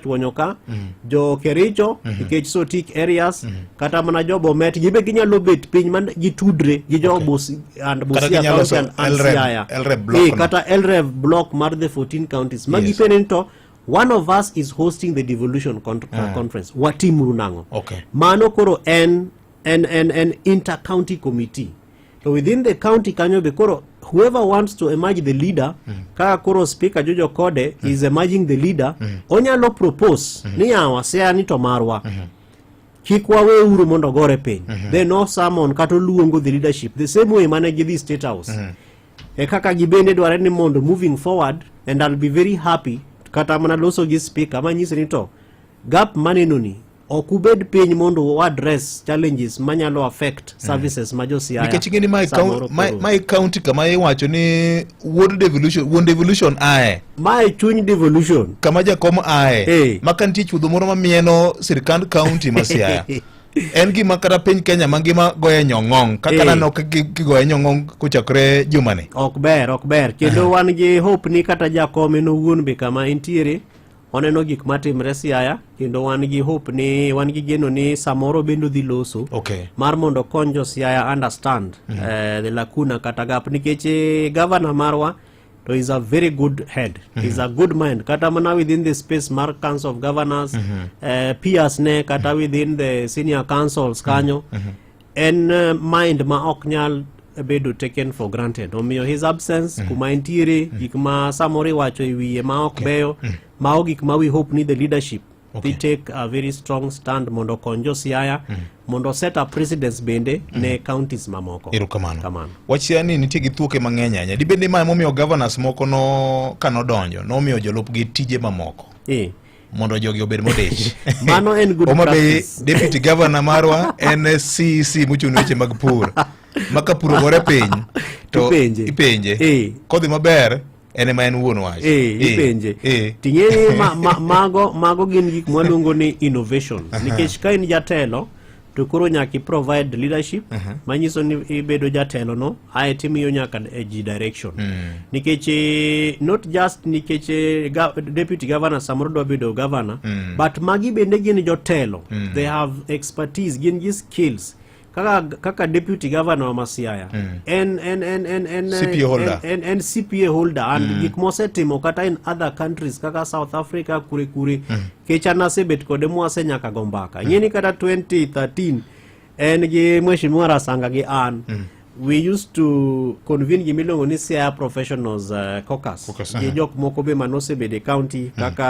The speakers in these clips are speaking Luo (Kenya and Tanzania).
tuonyo ka mm. jo kericho mm-hmm. nikech so tik areas mm-hmm. kata mana jo bomet gibe ginyalo bet piny man gitudre gi jo bus and busia county and ansiaya eh, kata elrev block mar the 14 counties magi yes. pene to one of us is hosting the devolution con uh, ah. conference watimuru nang'o okay. mano koro en en en en intercounty committee to within the county kanyo be koro whoever wants to emerge the leader mm. ka koro speaker Jojo Kode mm. is emerging the leader mm. onyalo propose mm -hmm. ni yawa sea ni to marwa mm -hmm. kik waweuru mondo gore piny mm -hmm. then no summon kata oluongo the leadership the same way mane gidhi state house mm -hmm. e kaka gibende dware ni mondo moving forward and I'll be very happy kata mana loso gi speaker manyise ni to gap manenoni ok ubed piny mondo u address challenges manyalo affect mm. services ma josiaya nikech ing'eni mae county kama iwacho ni wuod devolution wuon devolution ae mae chuny devolution kama jakom ae hey. maka nitie chuodho moro mamieno sirikand county ma siaya en gima kata piny kenya mangima goye nyong'ong kaka eh. naneno kigoye nyong'ong kochakre jumani ok ber ok ber kendo wan gi hope ni kata jakom en owuon be kama entiere waneno gik matimre siaya kendo wan gi hope ni wan gi geno ni samoro bendo dhi loso okay. mar mondo okony jo siaya understand mm -hmm. uh, the lacuna kata gap nikech eh, gavana marwa to is a very good head mm -hmm. is a good mind kata mana within the space mar council of governors mm -hmm. uh, peers ne kata mm -hmm. within the senior councils kanyo mm -hmm. En uh, mind ma ok nyal bedo taken for granted omiyo his absence mm. kuma entiere mm. gik ma samoro iwacho e wiye ma ok okay. beyo mm. mago gik ma we hope ni the leadership okay. dhi take a very strong stand mondo okony josiaya mm. mondo set up precedence bende mm. ne counties mamoko erokamano kamano wachia ni nitie gi thuoke mang'eny ahinya dibende ma emomiyo governors moko no kanodonjo nomiyo jolupgi tije mamoko e. mondo jogi obed modich. Mano en good Homa Bay practice. deputy governor marwa en CEC mochung' ne weche mag pur. Ma ka pur ogore piny to Ipenje. ipenje. Eh. Kodhi maber en ema en wuon wach. Eh, ipenje Eh. ting'e ni ma, ma, mago, mago gin gik mwaluongo ni innovation nikech ka in jatelo to koro nyaka i provide leadership uh -huh. manyiso ni ibedo jatelo no ae timiyo nyaka e ji direction mm. nikech eh, not just nikech eh, ga, deputy governor samoro dwa bedo governor mm. but magi bende gin jotelo mm. they have expertise gin gi skills kaka, kaka deputy governor wa Masiaya mm. en, en, en, en, en, CPA holder, en, en, en CPA holder and mm. gik mosetimo kata in other countries kaka South Africa kure kure mm. kech an asebet kode mwase nyaka go mbaka ing'e ni kata 2013 en gi mheshimiwa rasanga gi an mm. we used to convene gima iluongo ni cia professionals uh, caucus Caucus, gi aha. jok moko be mane osebedo e county kaka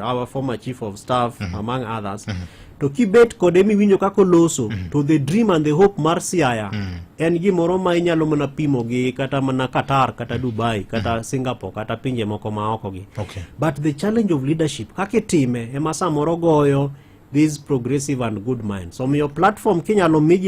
uh, our former chief of staff among others to kibet kode miwinjo kaka oloso mm. to the dream and the hope mar siaya mm. en gimoro ma inyalo mana pimo gi kata mana qatar kata mm. dubai kata mm. singapore kata pinje moko ma oko gi okay. but the challenge of leadership kaka itime ema samoro goyo these progressive and good minds omiyo so, platform kinyalo miji